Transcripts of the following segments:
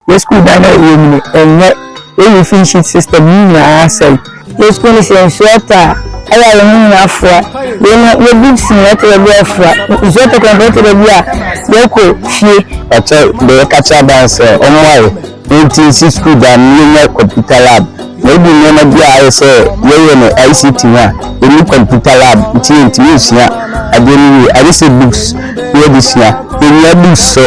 Yɛ sukuu dan na yɛ nyini ɛnyɛ yɛ roofing sheet system no nyinaa asɛe. Yɛ sukuu no sɛ nsuo atɔ a ɛyɛ a yɛ ho nyinaa afoa yei no yɛ books nyinaa ɛtɔ da bi a ɛfra nsuo tɔ kwan mpo ɛtɔ da bi a yɛ kɔ fie. Ɔkyɛ deɛ yɛ ka kyerɛ aban sɛ ɔmmoa yɛ nti yɛ si sukuu dan na yɛ nya computer lab. Na ebi nneɛma bi a ayɛ sɛ yɛyɛ no ICT ho a, ɛni computer lab nti yɛntumi nsua adeɛ no yie. Ayɛ sɛ books na yɛde sua. Yɛnhia books so.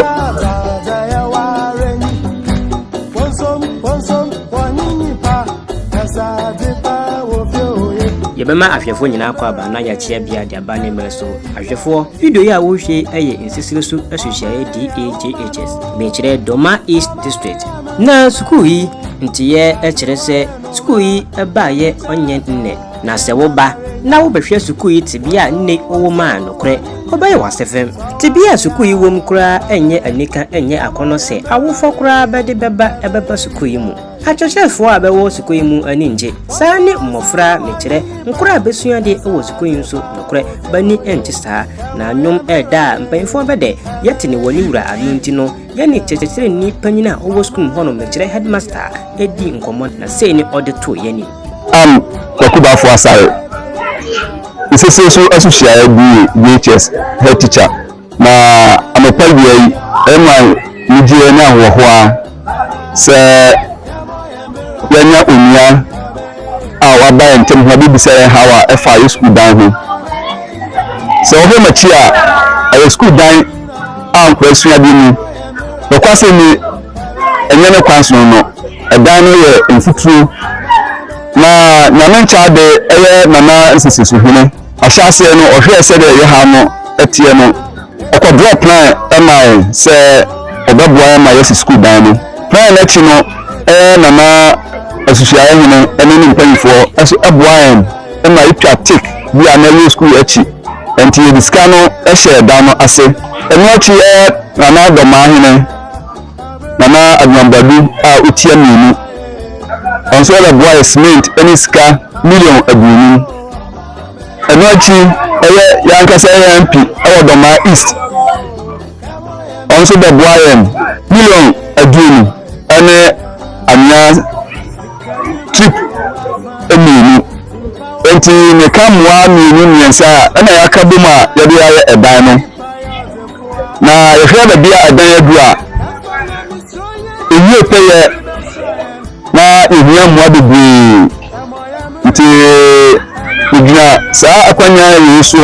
yɛbɛma ahwɛfoɔ nyinaa kɔ aba na yɛakyea bia de aba ne mmerɛ so ahwɛfoɔ video yi a wohwɛ yɛ nsesere so asuhyiaeɛ DAJHS mekyerɛ Doma East District Na sukuu yi nteyɛɛ kyerɛ sɛ sukuu yi baayɛ ɔnyɛ nnɛ, na sɛ woba na wobɛhwɛ sukuu yi tebea a nnɛ ɔwɔ mu a, nokorɛ ɔbɛyɛ wo asefem. Tebea a sukuu yi wɔ mu koraa nyɛ anika, ɛnyɛ akɔnnɔ sɛ awofoɔ koraa bɛde bɛba bɛba sukuu yi mu. Akyerɛkyerɛfoɔ a bɛwɔ sukuu yi mu ani ngye, saa ne mmɔfra, mekyerɛ, nkora a bɛsua adeɛ wɔ sukuu yi nso, nokorɛ bani ngye saa. Na nnwom ɛɛda a mpaninfoɔ bɛdɛ, yɛte no wɔ ne wura ano nti no, Yɛne kyerɛkyerɛni panyin a ɔwɔ sukuu mu hɔ no, mekyerɛ headmaster, dii nkɔmmɔ na sei ne ɔde too yɛn anim. Ann Kwaku Bafo Asare, Nsesie so Asuhyiaɛ BA, BHS, Head Teacher, Na anɔpa awia yi ɛma anigyeɛ ne ahoɔhoɔ ara sɛ. yɛanya onua a waba yɛn ntam ho abɛbisa yɛn haw a ɛfa yɛ sukuu dan ho. Sɛ wɔhwɛ m'akyi a, ɛyɛ sukuu dan a nkwadaa sua ade mu. Nokwasɛm ni, ɛnyɛ ne kwan sono no. Ɛdan no yɛ mfuturo. Na Nyame Nkyɛade yɛ Nana Nsisisohene. Ahyɛaseɛ no, ɔhwɛɛ sɛdeɛ yɛ haw no teɛ no. Ɔkɔdrɔɔ plan maa yɛn sɛ ɔbɛboa yɛn ma yɛasi sukuu dan no. Plan no akyi no na na Asusuaeɛ Hene ne ne mpanimfoɔ nso boa yɛn ma yɛtwa tik bi a na ɛwɔ sukuu akyi. Enti yɛde sika no hyɛɛ dan no ase. Ɛno akyi na na Dɔmaa Hene, Nana Aduanbadu a ɔtua mmienu, ɔno nso bɛboa yɛn cement ne sika million aduonum. Ɛno akyi ɛyɛ yɛn ankasa yɛn MP wɔ Dɔmaa East. Ɔno nso bɛboa yɛn million aduonu ne anwea trip mmienu. Nti meka mmoa mmienu mmiɛnsa a ɛna yɛaka bom a yɛde ayɛ ɛdan no. Na yɛhwɛ baabi a ɛdan adu a ɛwie pɛyɛ na yɛhia mmoa bebree. Nti megyina saa akwannya wei so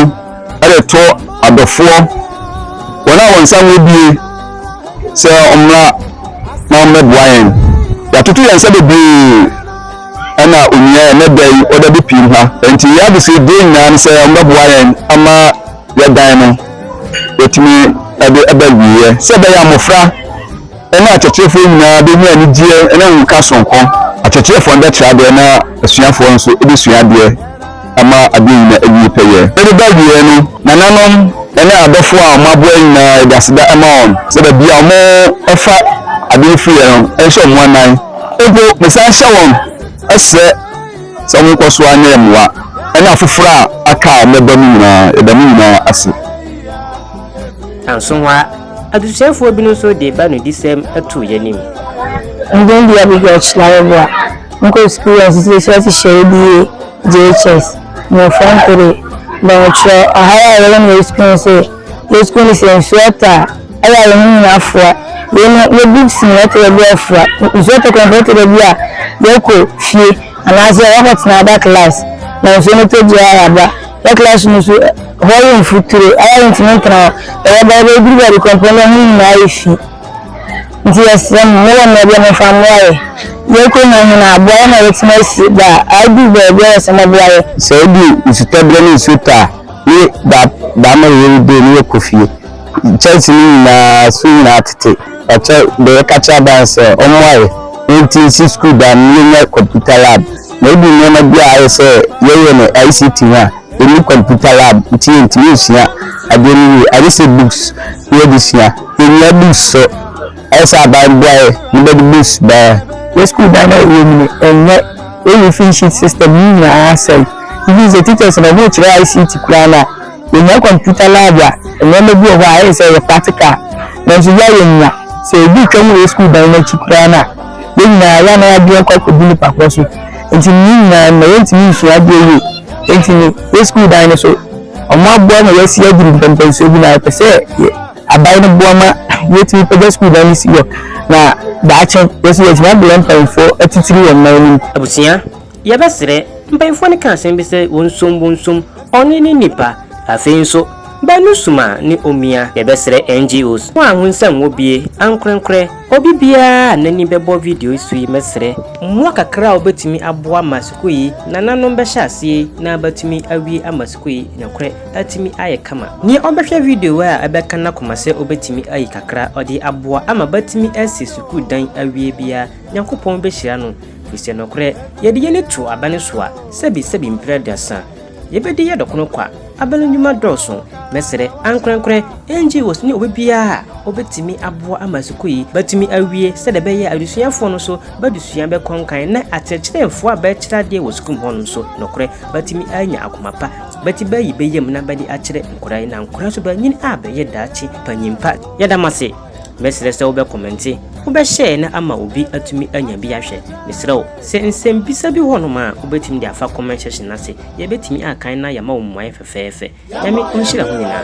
de reto adɔfoɔ, wɔn a wɔn nsa ho abue sɛ wɔmmra na wɔmmɛboa yɛn. Yɛatoto yɛn nsa bebree ɛna onua ɛnɛ da yi ɔda bi pii ha. Nti yɛn adesrɛ die nyinaa ne sɛ wɔmmɛboa yɛn ama yɛdan no yɛtumi de ɛbɛ wieɛ sɛ ɛbɛyɛ mmɔfra Ɛnna akyerɛkyerɛfoɔ nyinaa bɛnya anigyeɛ ne ahokeka sononko, akyerɛkyerɛfoɔ no bɛkyerɛ adeɛ na asuafoɔ nso bɛsua adeɛ ama adeɛ nyinaa awie pɛyɛ. Ɛde ba awieɛ no, nananom ne adɔfoɔ a wɔaboa yɛn nyinaa, yɛde aseda ma wɔn sɛ baabi a wɔfa adeɛ no firi yɛ no, ɛnhyɛ wɔn anan. Mpo mesan hyɛ wɔn srɛ sɛ wɔnkɔ so ara nyɛ yɛn mmoa, ɛne afoforɔ a aka a wɔbɛba no nyinaa. Yɛda mo nyinaa ase. Nanso hɔ ara, Adesuafoɔ bi no nso de bɛanodisɛm too yɛn anim. Ndien bi Abigail Kyilaweboa, nkɔ experience sɛ sɛ ɔte hyɛ ADA, JHS, mmofra nkode, bɛn ɔkyerɛ ɔhaw a yɛwɔ na yɛ sukuu sɛ yɛ sukuu ne sɛ nsuo ɔtɔ a ɛyɛ a yɛ ho nyina afoa wei no yɛ bibs nyina ɛtɔ da bi afoa nsuo ɔtɔ kora mpo ɛtɔ da bi a yɛ kɔ fie anaasɛ yɛ kɔ tena ada class na nsuo no tɔ biara yɛ aba Wɔ class no so hɔ yɛ mfuturo ara yɛntumi ntena hɔ ɛyɛ bɛyɛ bɛyɛ duru baabi kɔmpɔn yɛ ho nyinaa ayɛ fi nti yɛsrɛ mo mowɔ mmerɛ deɛ momfa mmoa yɛ yɛkɔ nya hene aboa yɛ ma yɛtumi asi da a aduru baabi a yɛsɛ moboa yɛ. Sɛ ɛdu nsutɔberɛ ne nsuo tɔ a ne daama yɛ yɛyi dee ne yɛkɔ fie kyɛnse no nyinaa so nyinaa tete ɔkyɛ deɛ yɛka kyerɛ aban sɛ ɔmmoa yɛ na yɛnti nsi sukuu dan ne yɛnya computer lab. Na edu nneɛma bi a ayɛ sɛ yɛyɛ no ICT ho a, yɛnni computer lab nti yɛntumi nsua adeɛ no yie. Ayɛ sɛ books na yɛde sua. Yɛnnya books so. Ayɛ sɛ aban boaeɛ na bɛde books baeɛ. Yɛn sukuu dan no a yɛwɔ mu no, ɛnyɛ. Yɛn roofing sheet system no nyinaa asɛe. Even sɛ teachers no, wɔrekyerɛ ICT koraa no a, Yɛnya computer lab a, nneɛma bi wɔ hɔ a ɛyɛ sɛ ɛyɛ practical, nanso yɛn a yɛnnya. Sɛ yɛn bi twam wɔ sukuu dan no akyi koraa no a, yɛn nyinaa yɛn anan abien akɔ akɔdi nnipa korɔ so. Enti ne nyinaa no, na yɛntumi nsua adeɛ yie. Enti no, yɛn sukuu dan no so, wɔaboa ma yɛasi aduru mpɛmpɛnsoɔ bi, na yɛpɛ sɛ yɛ, aban no boa ma yɛtumi pagya sukuu dan no si hɔ, na daakye, yɛn nso yɛatumi aboa mpanimfoɔ atitire wɔ mmaa no mu. Abusua Yɛbɛsrɛ mpanyimfoɔ no ka asɛm bi sɛ wɔnsom wɔnsom ɔne ne nipa. Afei nso baanu som a ne omia. Yɛbɛsrɛ NGOs no anho nsɛm wɔ bie ankorɛnkorɛ. Obi biara a n'ani bɛbɔ video yi so yi mɛsrɛ mmoa kakra a wobɛtumi aboa ma sukuu yi nananom bɛhyɛ aseɛ yi na bɛatumi awie ama sukuu yi nokorɛ atumi ayɛ kama. Nea ɔbɛhwɛ video yi a ɛbɛka n'akoma sɛ obɛtumi ayi kakra ɔde aboa ama bɛatumi asi sukuu dan awie biara. Nyankopɔn behyira no, efisɛ nokorɛ Yɛ'de Y'ani too abɛn so a, sɛbisɛbi mprɛ aduasa, Yɛ'bedi yɛ dɔ kono kwa, abɛn nnwuma dɔɔso, mɛsrɛ, ankorɛnkorɛ, ɛngye wɔ sini obibiara a obetumi aboa ama sukuu yi bɛtumi awie sɛdeɛ ɛbɛyɛ a adesuafoɔ no nso bɛadesua bɛkɔnkan na akyerɛkyerɛfoɔ a bɛrekyerɛ adeɛ wɔ sukuu mu hɔ no nso nokorɛ bɛatumi anya akoma pa bɛti bɛayi bɛyam na bɛde akyerɛ nkwadaa yi na nkwadaa nso bɛanyini a bɛyɛ daakye panyinpa. Yɛ'da mo ase. Mɛsrɛ sɛ wobɛkɔmɛnte, wobɛhyɛɛ na ama obi atumi anya bi ahwɛ. Mesrɛ wo, sɛ nsɛmbisa bi wɔ hɔnom a wobɛtumi de afa comment section no ase, yɛbɛtumi akan na yɛama wo mmuaeɛ fɛfɛɛfɛ. Nyame ɔnhyira ho nyinaa.